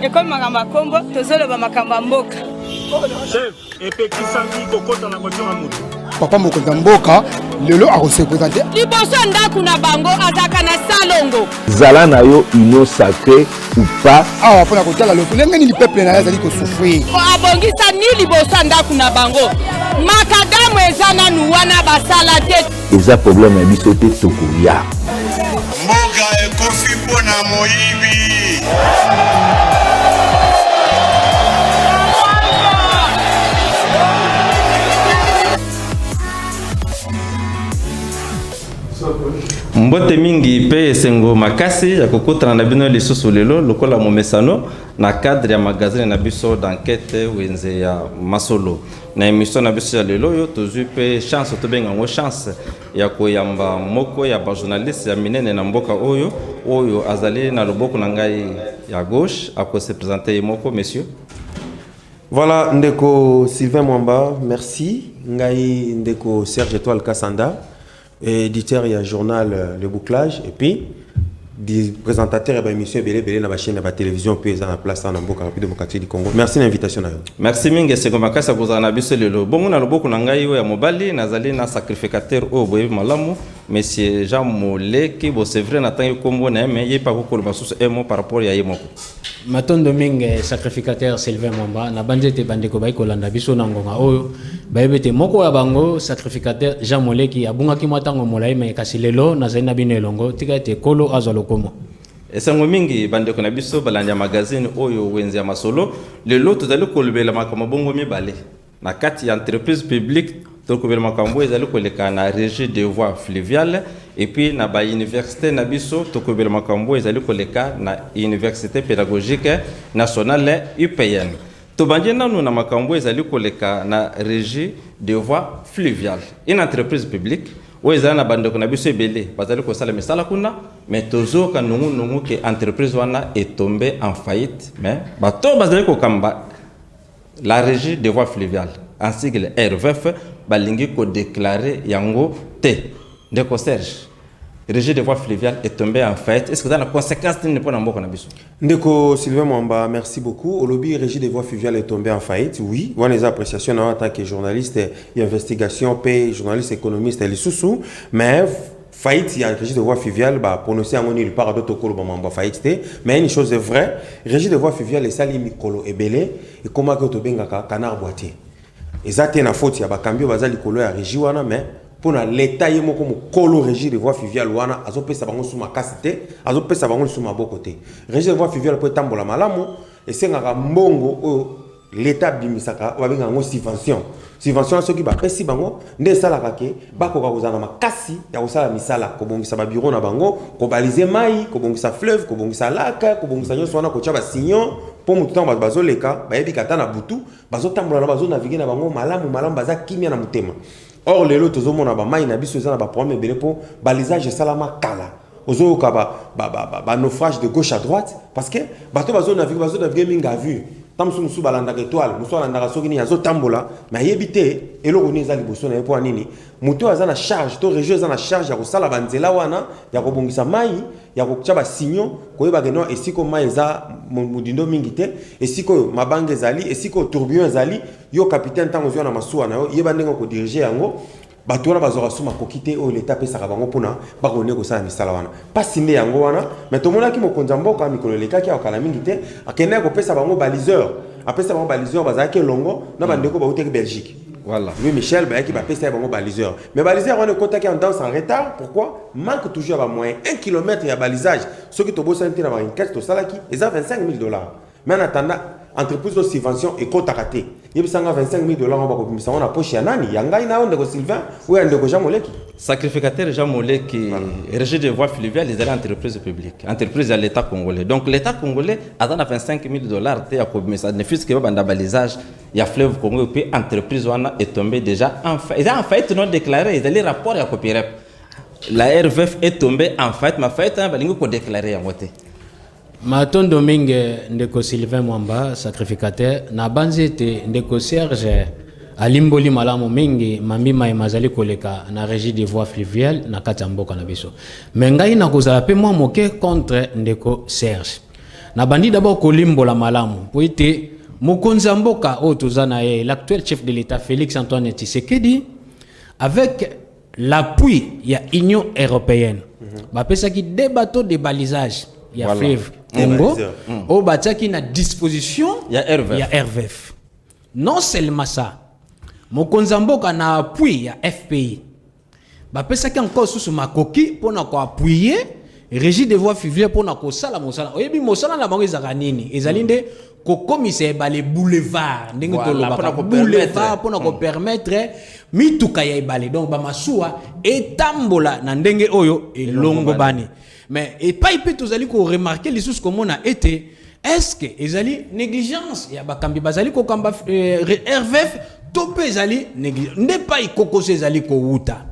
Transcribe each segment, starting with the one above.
ekomi makambo ya nkombo tozoloba makambo ya mboka chef epekisaki kokota na voiture ya moto papa mokonzi ya mboka lelo akosepresente liboso ya ndako na bango azalaka na salongo zala na yo union sacré ou pas awa mpo na kotala lolenge nini peuple na ye azali kosouffrir abongisani liboso ya ndako na bango makadamu eza nanu wana basala te eza problème ya biso te tokoya mboka ekofi mpo na moyibi Mbote mingi mpe esengo makasi ya kokutana na bino lisusu lelo lokola momesano na cadre ya magazine na biso d'enquête wenze ya masolo na emission na biso ya lelo oyo tozwi mpe chance tobenga yango chance ya koyamba moko ya bajournaliste ya minene na mboka oyo oyo azali na loboko na ngai ya gauche akose presente ye moko monsieur Voilà ndeko Sylvain Mwamba, merci. Ngai ndeko Serge Etoile Kassanda, éditeur ya journal euh, Le Bouclage et puis des présentateurs et émission belé belé na ba chaîne ba télévision puis eza na place na mboka rapide démocratique du Congo. Merci na invitation na yo. Merci mingi seko makasa kozala na biso lelo. Bongo na loboko na ngai oyo ya mobali nazali na sacrificateur oyo boyebi malamu monsieur Jean Moleki bo c'est vrai na tangi kombo na ye mais ye pa kokolo basusu emo par rapport ya ye moko. Matondo mingi eh, sacrificateur Sylvain Mwamba na banze te bandeko bayi kolanda biso na ngonga oyo bayebi te moko ya bango sacrificateur Jean Moleki abungaki mwa ntango molai mai kasi lelo nazali na bino elongo tika ete kolo azwa lokomo esango mingi bandeko na biso balandi ya magazine oyo wenze ya masolo lelo tozali kolobela makambo bongo mibale Na kati ya entreprise publique tolokobela makambo oyo ezali koleka na regie de voie fluviale epuis na bauniversité na biso tokobela makambo oyo ezali koleka na université pédagogique nationale upn tobandi nanu na makambo oyo ezali koleka na regie de voie fluviale une entreprise publique oyo ezali na bandeko na biso ebele bazali kosala misala kuna mais tozoyoka nungunungu ke entreprise wana etombe en faillite mais bato bazali kokamba La regie de voie fluviale en sigle RVF balingi ko declarer yango te ndeko Serge regie de voie fluviale est tombé en faillite est-ce que dans la conséquence nini pona mboka na biso ndeko Sylvain Mwamba merci beaucoup olobi regie de voie fluviale est tombé en faillite oui wana eza appréciation na en tant que journaliste d'investigation pe journaliste économiste lisusu mais Faillite ya Régie de voie fluviale ba prononcer yango nulle part d'autres kolo ba mambo faillite te mais une chose est vraie Régie de voie fluviale esali mikolo ebele ekoma ko to bengaka canard boitier eza te na faute ya ba cambio baza likolo ya régie wana mais pona l'État ye moko mukolo Régie de voie fluviale wana azo pesa bango suma kasi te azo pesa bango suma boko te Régie de voie fluviale po etambola malamu esengaka mbongo oyo L'Etat abimisaka oyo babengaka yango subvention. Subvention wana soki bapesi bango nde esalaka ke bakoka kozala na makasi ya kosala misala, kobongisa ba bureau na bango, kobalize mai, kobongisa fleuve, kobongisa lac, kobongisa nyonso wana, kotya ba signaux mpo motu ntango bato bazoleka bayebi kata na butu bazotambola na bazonavigue na bango malamu malamu, baza kimya na motema. Or lelo tozomona bamai na biso eza na baproblème ebele mpo balisage esalama kala. Ozo yoka ba ba ba ba, ba naufrage de gauche à droite parce que bato bazo naviguer bazo naviguer mingi à vue. Tango mosusu mosusu balandaka etoile mosusu alandaka soki nini azo tambola mais ayebi te eloko nini eza liboso na ye mpo nini moto oyo aza na charge to regio eza na charge ya kosala banzela wana ya kobongisa mai ya kotya basigno koyeba ke no esika mai eza modindo mingi te esika oyo mabanga ezali esika oyo tourbillon ezali yo capitaine ntango ozwa na masuwa na yo yeba ndenge okodirige yango Bato wana bazwaka su makoki te oyo leta apesaka bango mpo na bakone kosala misala wana. Mpasi nde yango wana, me tomonaki mokonzi ya mboka mikolo elekaki awa kala mingi te, akendaki kopesa bango baliseur, apesa bango baliseur, bazalaki elongo na bandeko bautaki Belgique. Voilà. Louis Michel bayaki bapesa ye bango baliseur mais baliseur wana ekotaki en danse en retard pourquoi manque toujours ya bamoyen 1 km ya balisage soki tobosani te na marine 4 tosalaki eza 25 000 dollars mais en attendant entreprise de subvention ekotaka te yebisa nga 25000 dollars ngo bakobimisa ngo na poche ya nani ya ngai na yo ndeko sylvain oyo ya ndeko jean moleki sacrificateur jean moleki régie de voie fluviale ezali entreprise publique entreprise ya l'état congolais donc l'état congolais aza na 25000 dollars te ya kobimisa ne fils que babanda balisage ya fleuve congo epuis entreprise wana etombe déjà en faillite eza en faillite non déclaré ezali rapport ya copirep la rvf est tombée en faillite ma faillite wana balingi kodéclare yango te Matondo mingi ndeko Sylvain Mwamba sacrificateur, nabanzi ete ndeko Serge alimboli malamu mingi mambi mai mazali koleka na régie des voies fluviales na kati ya mboka na biso. Me ngai nakozala mpe mwa moke contre ndeko Serge. Nabandi d'abord kolimbola malamu mpo ete mokonzi ya mboka oyo toza na ye l'actuel chef de l'État Félix Antoine Tshisekedi avec l'appui ya union européenne bapesaki de bateau de balisage ya Voilà. fleuve congo Mm. oyo batiaki na disposition Ya RVF. ya rvf non seulement ça mokonzi ya mboka na appui ya fpi bapesaki encore susu makoki mpo na koappuye régie de voie fivile mpo na kosala mosala oyebi mosala na bango ezalaka nini ezali nde kokomisa ebale boulevard ndenge tolobaka boulevard mpona kopermettre hmm. mituka ya ebale donc bamasuwa etambola na ndenge oyo elongobani mais epai mpe tozali koremarke lisusu komona ete estce ezali négligence ya bakambi bazali kokamba euh, rvf to mpe ezali négligence nde epai kokoso ezali kowuta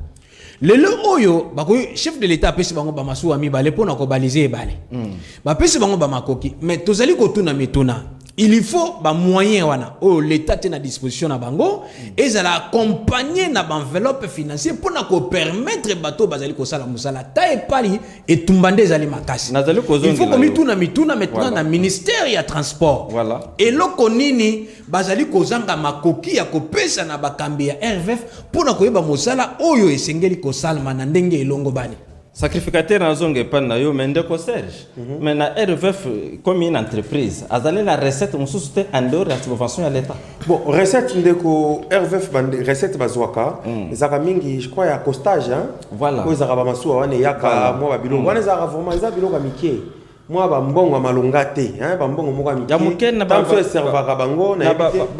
lelo oyo bakoki chef de l'etat apesi bango bamasuwa mibale mpo na kobalise ebale mm. bapesi bango bamakoki me tozali kotuna mituna il faut bamoyen wana oyo leta te na disposition na bango mm. ezala accompagne na baenveloppe financier mpo na kopermettre bato oyo bazali kosala mosala ta epali etumba nde ezali makasi il faut komituna mituna maintenant na ministère ya transport eloko nini bazali kozanga makoki ya kopesa na bakambi ya RVF mpo na koyeba mosala oyo esengeli kosalama na ndenge elongobani. sacrificateur nazonga epai na yo me ndeko serge mm -hmm. me na rvf comme une entreprise azali na recette mosusu te en dehors ya subvention ya l'état bon recette ndeko rvf recette bazwaka mm. ezalaka mingi je crois ya costage hein? voilà oyo ezalaka bamasuwa wana eyaka voilà. mwa babiloko mm. wana ezalaka vraiment eza biloko ya mikie mwa bambongo ya malonga te hein, bambongo moko ya moke ntango so eservaka bango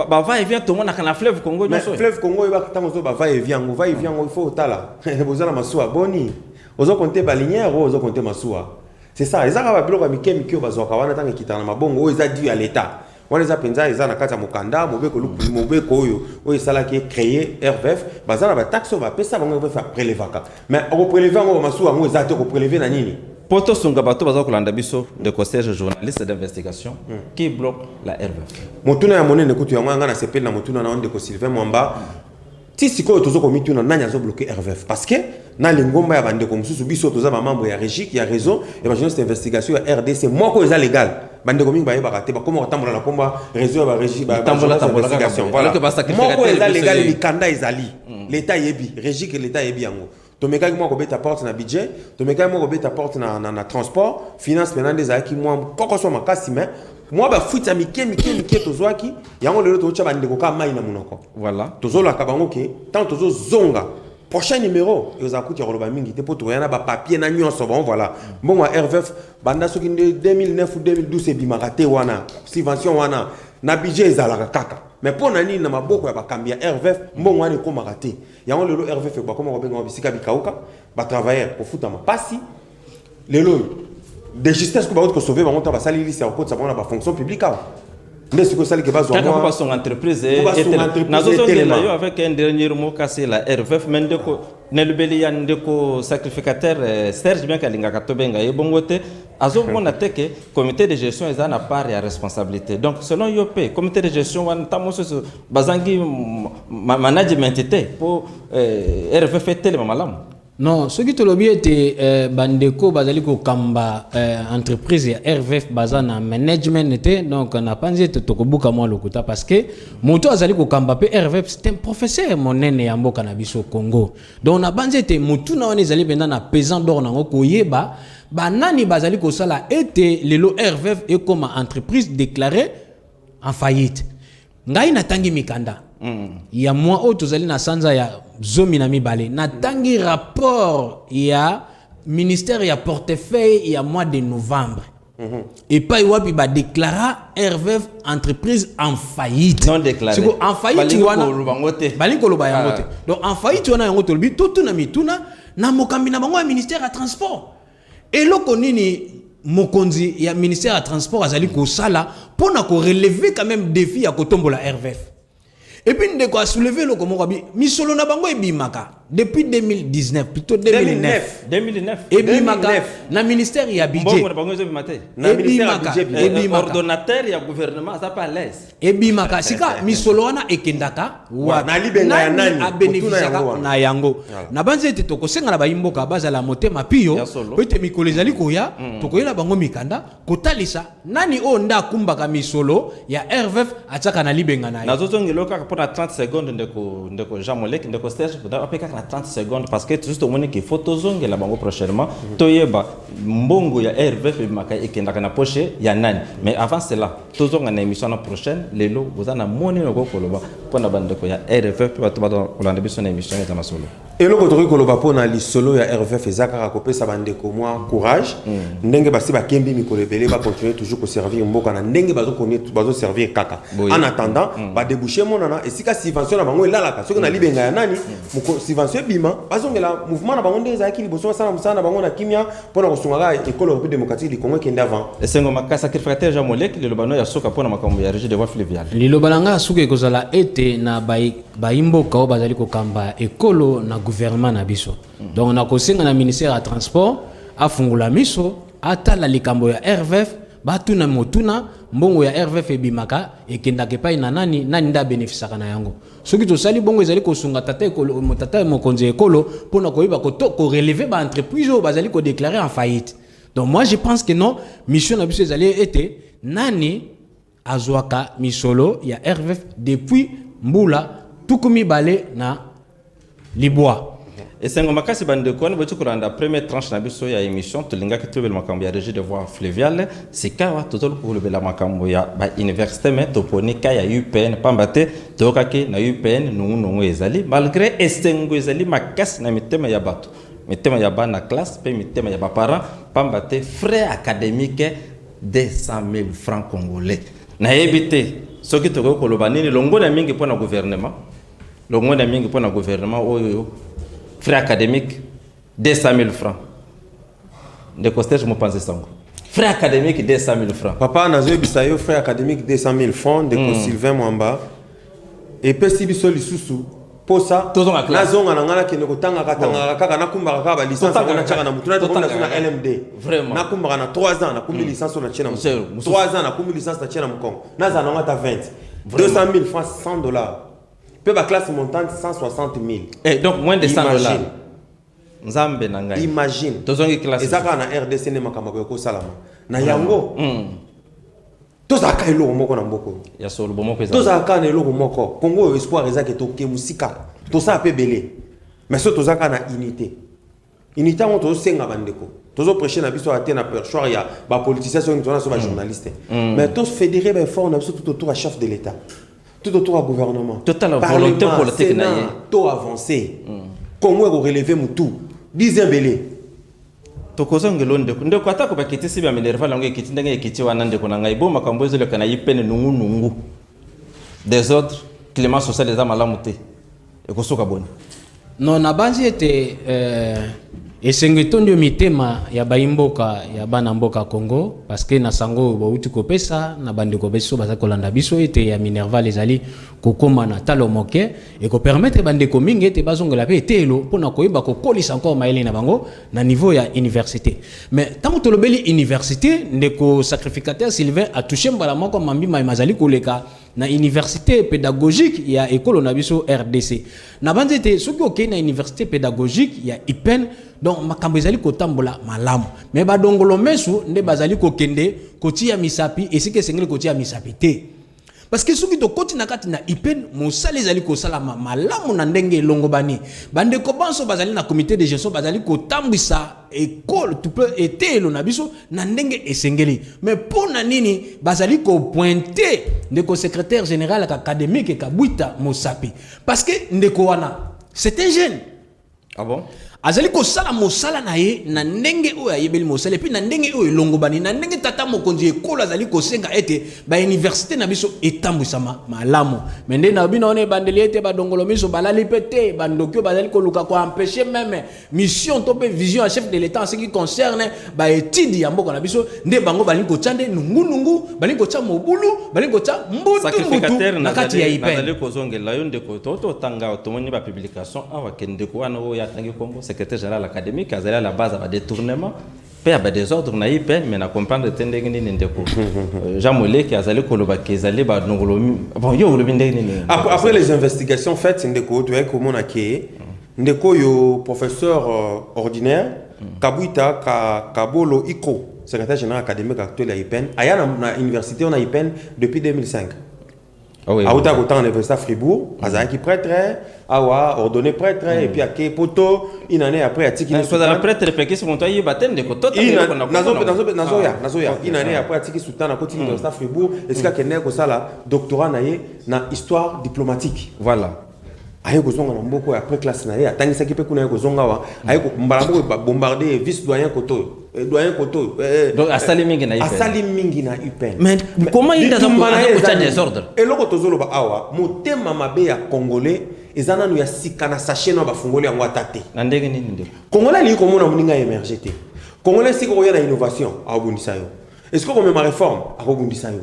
bava evi atongonaka na fleuve congo nyonso fleuve congo oyebaka ntango ozo bava evi yango va evi yango ifo otala boza na masuwa boni ozo konte balinière oyo ozo konte masuwa c'est ça eza kaka babiloko ya mike mike oyo bazwaka wana ntango ekitaka na mabongo oyo eza dû ya l'état wana eza mpenza eza na kati ya mokanda mobeko luku mobeko oyo oyo esalaki ecreye rvf baza na bataxe oyo bapesa bango rvf aprelevaka mais okopreleve yango bamasuwa yango eza te okopreleve na nini mpo tosunga bato baza kolanda biso ndeko serge journaliste d'investigation hmm. qui bloque la rvf motuna ya monene kutu yango yanga nasepeli na motuna na yo ndeko sylvain mwamba Ti sikoyo tozo komituna nani azo bloquer RVF parce que na lingomba ya bandeko mosusu biso toza ba membre ya regic ya réseau ya ba journaliste investigation ya RDC moko eza legal bandeko mingi bayebaka te bakoma kotambola na komba réseau ya ba regic ba investigation voilà moko eza legal mikanda ezali hmm. leta yebi regic leta yebi yango tomekaki mwa kobeta porte na budget tomekaki mwa kobeta porte na, na, na transport finance mpena nde ezalaki mwa kokoso makasi me mwa bafuite ya mike mike mike tozwaki yango lelo tozotya bandeko kaka mai na monoko voilà tozolaka bango ke ntango tozozonga prochain numéro ezala kutu ya koloba mingi te mpo tokoya na bapapier na nyonso bon voilà mbongo ya rvf banda soki nde 2009 ou 2012 ebimaka te wana subvention wana na budget ezalaka kaka mais mpo na nini na maboko ya bakambi ya rvf mbongo wana ekomaka te Yango lelo Herve Feko bakoma ko benga bisika bikauka ba travailleurs kofutama pasi lelo oyo de justesse ko ba ko sauver bango ta basali liste ya kokotisa bango na ba fonction publique awa nde sikoyo esali ke bazwa kaka mpo basonga entreprise nazozolela yo avec un dernier mot kasi la rvf me ndeko nalobeli ya ndeko sacrificateur eh, serge bianke alingaka tobenga ye bongo te azomona te ke comité de gestion eza na part ya responsabilité donc selon yo mpe comité de gestion wana ntango mosusu bazangi management te mpo eh, rff etelema malamu non soki tolobi ete eh, bandeko bazali kokamba eh, entreprise ya rvf baza na management te donc napanzi ete tokobuka mwa lokuta parce que moto azali kokamba mpe rvf c'est un professeur monene ya mboka na biso congo donc napanzi ete motuna wana ezali mpenza na pesant dor nango koyeba banani bazali kosala ete lelo rvf ekoma entreprise déclarée en faillite ngai natangi mikanda mm. ya mwa oyo tozali na sanza ya zomi na mibale natangi rapport ya ministère ya portefeuille ya mois de novembre mm -hmm. epai wapi badeklara rvf entreprise en faillite siko en faillite wana balingi koloba yango te ah. donc en faillite wana yango tolobi totuna mituna na mokambi na bango ya ministère ya transport Eloko nini mokonzi ya ministère ya transport azali kosala mpo na koreleve quand même défi ya kotombola RVF et puis ndeko a soulever eloko moko abi misolo na bango ebimaka depuis 2019 plutôt 2009 2009 ebimaka na ministère ya budget mbongo na bango ezobima te na ministère ya budget ordonnateur ya gouvernement aza pas à l'aise ebimaka sika misolo wana ekendaka wapiabenefisiaka na yango nabanzi ete tokosenga na bayimboka bazala motema piyo po ete mikolo ezali koya mm. tokoyela bango mikanda kotalisa nani oyo nde akumbaka misolo ya rvf atiaka na libenga na ye nazozongelo kaka mpo na 30 seconde ndeko ndeko jean molek ndeko serge ape kaka na 30 seconde parce que tuzi tomoni ke fo tozongela bango prochainement mm. toyeba mbongo ya rvf ebimaka ekendaka na poche ya nani mais avant cela tozonga na emission na prochaine lelo boza na moni na okoki koloba mpo na bandeko ya rff mpe bato bato kolanda biso na emission eza masolo eloko tokoki koloba mpo na lisolo ya rff eza kaka kopesa bandeko mwa courage mm. ndenge basi bakembi mikolo ebele bacontinue toujours koservir mboka na ndenge bazoservir kaka en attendant mm. badebouche emonana esika subvention na bango elalaka soki na mm. libenga ya nani subvention ebima bazongela mouvement na bango ndenge ezalaki liboso basala mosala na bango na kimia mpo na kosunga kaka ekolo République démocratique du Congo ekende avant. Esengo makasi sacrificateur Jean Molek liloba no ya suka mpo na makambo ya régie de voie fluviale. Liloba na ngai ya suka ekozala ete na bayimboka oyo bazali kokamba ekolo na gouvernement na biso mm. donc nakosenga na ministère ya transport afungola miso atala likambo ya RVF batuna motuna mbongo ya RVF ebimaka ekendaka epai na nani nani nde abenefisaka na yango Soki tosali bongo ezali kosunga tata ekolo tata mokonzi ya ekolo mpo na koyeba koreleve ba entreprise oyo bazali kodeklare en faillite. Donc moi je pense que non, mission na biso ezali ete nani azwaka misolo ya RVF depuis mbula tuku mibale na libwa esengo makasi bandeko wana boti kolanda première tranche na biso ya émission tolingaki tolobela makambo ya régie de voie fluviale sikawa tozali kolobela makambo ya bauniversité mai toponi ka ya upn mpamba te toyokaki na upn nungunungu ezali malgré esengo ezali makasi na mitema ya bato mitema ya bana classe mpe mitema ya baparent mpamba te frais académique 200 000 francs congolais nayebi te soki tokoki koloba nini longola mingi mpo na gouvernement Longonya mingi mpo na gouvernement oyo frais académique 200 000 francs. Ndeko Serge Mopanzi Sango. Frais académique 200 000 francs. Papa nazoyebisa yo frais académique 200 000 francs ndeko mm. Sylvain Mwamba epesi biso lisusu posa nazonga na ngai nakende kotangaka tangaka kaka nakumbaka kaka balicence yango natyaka na motu natonasi na lmd nakumbaka na 3 ans nakumbi mm. licence oyo natye na mokongo 3 ans nakumbi licence natye na mokongo nazala nango ata 20 200 000 francs 100 dollars mpe baclasse montante 160 000 eh, donc moins de 100 dollars nzambe na ngai imagine tozongi classe eza kaka na rdc nde makambo akoki kosalama na yango mm. tozalaka eloko moko na mboko ya solo bomoko eza tozalaka na eloko moko kongo oyo espoir ezaki toke mosika tosala mpe ebele mais so tozalaka na unité Ini ntango tozosenga bandeko tozo prêche na biso ate na perchoir ya bapoliticien soki tozana so bajournaliste mm. mm. mais to fédéré baeffort na biso tout autour ya chef de l'état tout autour ya gouvernement totala volonté politique na ye to avancé mm. congo ekoreleve motu bize ebele tokozongela ndeko ndeko atako bakitisi baminerval yango ekiti ndenge ekiti wana ndeko na ngai bo makambo ezoleka na ye pene nungunungu desordre climat social eza malamu te ekosuka boni non nabanzi ete eh, esengo etondi yo mitema ya baimboka ya bana mboka congo parceke na sango oyo bauti kopesa na bandeko biso bazali kolanda biso ete ya minerval ezali kokoma na talo moke ekopermetre bandeko mingi ete bazongela mpe eteyelo mpo na koyeba kokolisa encore mayele na bango na niveau ya université mais ntango tolobeli université ndeko sacrificateur sylvain atouche mbala moko mambi mai mazali koleka na université pédagogique ya ekolo na biso rdc nabanzi ete soki okei na université pédagogique ya ipen donc makambo ezali kotambola malamu me badongolo mesu nde bazali kokende kotia misapi esika esengeli kotia misapi te parce que soki tokoti na kati na ipen mosala ezali kosalama malamu na ndenge elongobani bandeko banso bazali na comité de gestion bazali kotambwisa ekolo to mpe eteyelo na biso na ndenge esengeli me mpo na nini bazali kopointe ndeko secrétaire général académique kabwita mosapi parce que ndeko wana c'est un jeune ah bon? azali kosala mosala na ye na ndenge oyo ayebeli mosala epuis na ndenge oyo elongobani na ndenge tata mokonzi ekolo azali kosenga ete bauniversité na biso etambwisama malamu me nde na bino wana ebandeli ete badongolo miso balali mpe te bandoki oyo bazali koluka koampeshe meme mission to mpe vision ya chef de l'etat en ce qui concerne baetide ya mboka na biso nde bango balingi kotya nde nungunungu balingi kotya mobulu balingi kotya mbutumbutu na kati ya ipnazali kozongela yo ndeko totanga tomoni bapublication awa ke ndeko wana oyo atangi nkombo secrétaire général académique azali ala base ya badetournement mpe ya badesordre na ipn mais na comprendre te ndenge nini ndeko euh, jean moleki azali koloba ke ezali banongolomi bon yo olobi ndenge nini après les investigations faites ndeko toyaki komona ke Ndeko oyo professeur ordinaire Kabuita ka Kabolo Iko, secretaire general academique actuel ya IPN, aya na, na universite wana IPN depuis 2005. Ah oui, awuta kotanga na université ya Fribourg, mm. azalaki prêtre, awa ordonné prêtre mm. et puis ake poto une année après atiki na sozala prêtre pe kisi moto ayeba te ndeko tota ndeko na nazo nazo nazo ya ah. nazo ya une année ah. après atiki sultana koti mm. université ya Fribourg esika kende kosala doctorat na ye na histoire diplomatique. Voilà. aye kozonga na mboko ya après classe na ye atangisaki mpe kuna ye kozonga awa aye mbala moko babombarde vice doyen kotoyo eh, doyen kotoyo eh, eh, asali mingi na asali mingi na upnbitumbanayeza desordre eloko tozoloba awa motema mabe ya congolais eza nanu ya sika na sachet na bafungoli yango ata te na ndenge nini nde congolais alingi komona moninga emerge te congolais esika okoya na innovation akobundisa yo esika okomema réforme akobundisa yo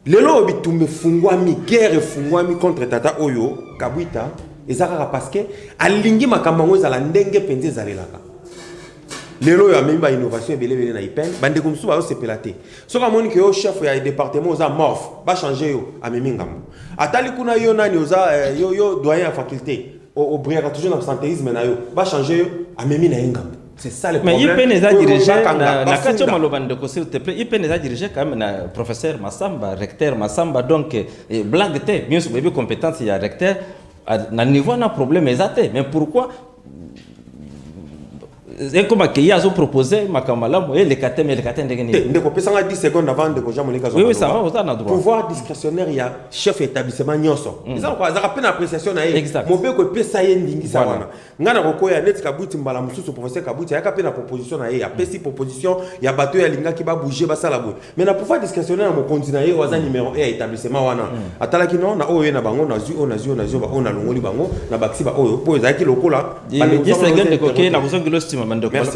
lelo oyo bitumba efungwami guerre efungwami contre tata oyo kabwita eza kaka parce que alingi makambo yango ezala ndenge mpenza ezalelaka lelo oyo amemi bainnovation ebelebele na ipene bandeko mosusu bayosepela te soki amoni ke yo chef ya département oza morphe bachange yo amemi ngambo atali kuna yo nani oza eh, yo, yo doyen ya faculté obriyaka toujours na santéisme na yo bachange yo amemi na ye ngambo C'est ça le problème. Mais IPN eza dirigé na, na kati maloba ndeko s'il te plaît. IPN eza dirigé quand même na professeur Massamba, recteur Massamba donc eh, eh blague te. Bien sûr, bébé compétence il y a recteur ah, na niveau na problème eza te. Mais pourquoi ekoma ke ye azopropose makambo malamu eleka te ma eleka te ndenge nini ndeko pesanga 10 seconde avant ndeko jean monika oui, oui, ça va oza na droit pouvoir discrétionnaire ya chef ya établissement nyonso mm. eza azaka mpe na appréciation na ye mobeko epesa ye ndingisa wana nga na kokoya neti kabwiti mbala mosusu professeur kabwiti ayaka mpe na proposition na ye apesi proposition ya bato oyo alingaki babouge basala boye mais na pouvoir discrétionnaire ya mokonzi na ye oyo aza mm. numéro e ya établissement wana mm. atalaki no na oyo ye na bango nazwi oyo nazwi oyo nazwi oyo nalongoli bango na bakisi baoyo mpo ezalaki lokola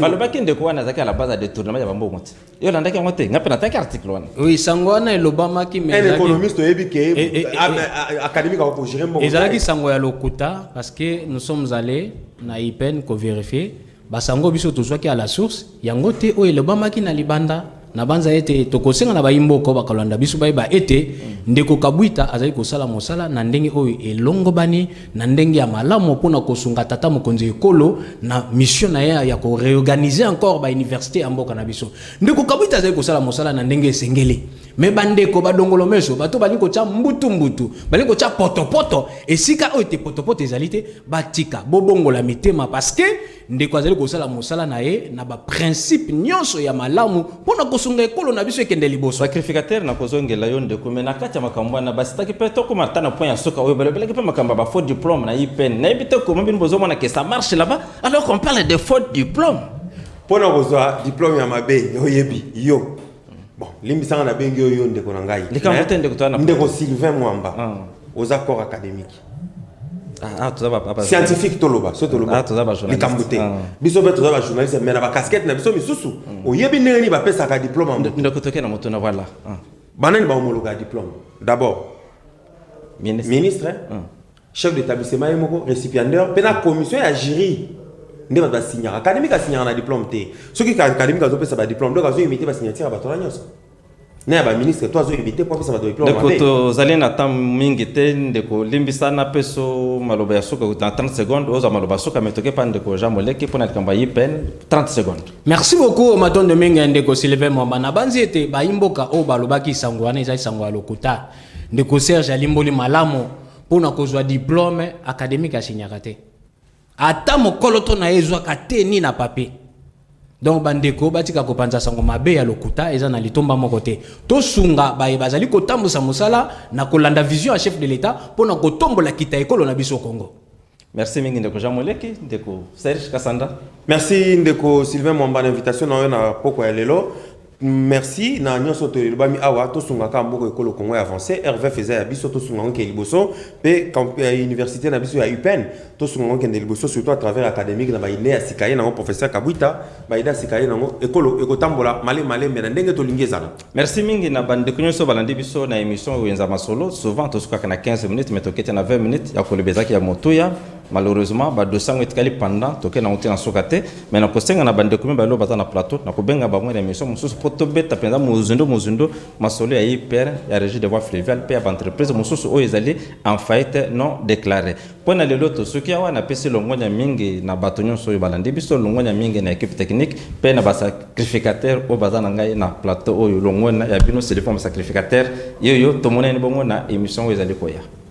balobaki ndeko wana azalaki à la base ya détournement ya bambongo te yo olandaki yango te ngai mpe nataki article wana oui sango wana elobamaki mais un ezalaki- économiste oyebi ke Eh, eh, eh, am- a- académique akokogere mbongo ezalaki te. sango ya lokuta parce que nous sommes allés na ipen kovérifie basango biso tozwaki à la source yango te oyo elobamaki na libanda nabanza ete tokosenga na bayimboko bakolanda biso bayeba ete ndeko kabwita azali kosala mosala na ndenge oyo elongobani na ndenge ya malamu mpo na kosunga tata mokonzi ya ekolo na mission na ye ya ko reorganiser encore ba université ya mboka na biso. Ndeko Kabwiti azali kosala mosala na ndenge esengeli. Me bandeko badongolo meso bato balingi kotya mbutu mbutu, balingi kotya potopoto esika oyo te potopoto ezali te, batika bobongola mitema parce que Ndeko azali kosala mosala na ye na ba principe nyonso ya malamu mpo na kosunga ekolo na biso ekende liboso. Sacrificateur na kozongela yo ndeko me na kati ya makambo wana basitaki mpe tokoma ata na point ya suka oyo balobelaki mpe makambo ya ba faux diplome na IPN. Nayebi te comment bino bozomona que ça marche là-bas alors qu'on parle de faux diplome. Mpo na kozwa diplome ya mabe oyebi yo bon limbisanga nabengi yo yo ndeko na ngai Likambo te ndeko toza na ndeko Sylvain Mwamba oza corps académique Ah, ah, toza ba- ba- ba- scientifique toloba so toloba Ah, toza ba journaliste. likambo te Ah. biso mpe toza bajournaliste me na bakaskete na biso misusu oyebi ndenge nini bapesaka diplome yango Ndo- ndoko toke na moto na voilà Ah. banani bahomologa ya diplome d'abord Ministre. ministre Mm. chef d'établissement ye moko récipiendaire mpe na commission ya jury nde bato basignaka académique asignaka na diplome te soki académique azopesa badiplome donc azoimite basignature ya bato wana nyonso na ya baministre to azoyebi te mpo apesa bato diplome ndeko mabe tozali na temps mingi te ndeko limbisa na peso maloba ya suka na 30 secondes oza maloba ya suka me toke pa ndeko jean moleki mpo na likambo ya ipn 30 secondes merci beaucoup matondo mingi ya ndeko sylvain mwamba nabanzi ete bayimboka oyo balobaki sango wana ezali sango ya lokuta ndeko serge alimboli malamu mpo na kozwa diplome akademike asinyaka te ata mokoloto na ye ezwaka te ni na papier donc bandeko batika kopanza sango mabe ya lokuta eza na litomba moko te tosunga baye bazali kotambusa mosala na kolanda vision ya chef de l'etat mpo na kotombola kita ekolo na biso congo merci mingi ndeko jean moleki ndeko serge kasanda merci ndeko sylvain mwamba na invitation na yo na poko ya lelo Merci na nionso to elobami awa tosunga ka mboko ekolo Congo ya avance RVF eza ya biso tosunga ngo ke liboso pe euh, université na biso ya UPN tosunga ngo kende liboso surtout à travers académique na ba idée ya sikaye na ngo professeur Kabuita ba idée sikaye na ngo ekolo ekotambola male male mais na ndenge tolingi ezala Merci mingi na bande ko nionso balandi biso na émission Wenza Masolo souvent tosukaka na 15 minutes mais tokete na 20 minutes ya kolobezaki ya motuya Malheureusement, ba dossier yango etikali pendant toke na te na soka te, mais na kosenga na bande kumi balo bata na plateau, na kobenga bango na emission mosusu po tobeta penza mozindo mozindo masolo ya IPR ya régie de voie fluviale pe ya entreprise mosusu oyo ezali en faillite non déclarée. Po na lelo tosuki awa, napesi longonya mingi na bato nyonso oyo balandi biso, longonya mingi na equipe technique pe na ba sacrificateurs oyo baza na ngai na plateau oyo, longonya ya bino Siliforme sacrificateur, yoyo tomonani bongo na emission oyo ezali koya.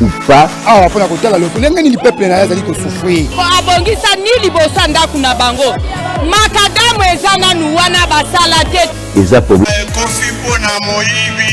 ou pas awa mpo na kotala lolenge nini peuple na ye azali kosouffrir mpo abongisani liboso ya ndako na bango makadamu eza nanu wana basala te eza ekofi mpo na moyibi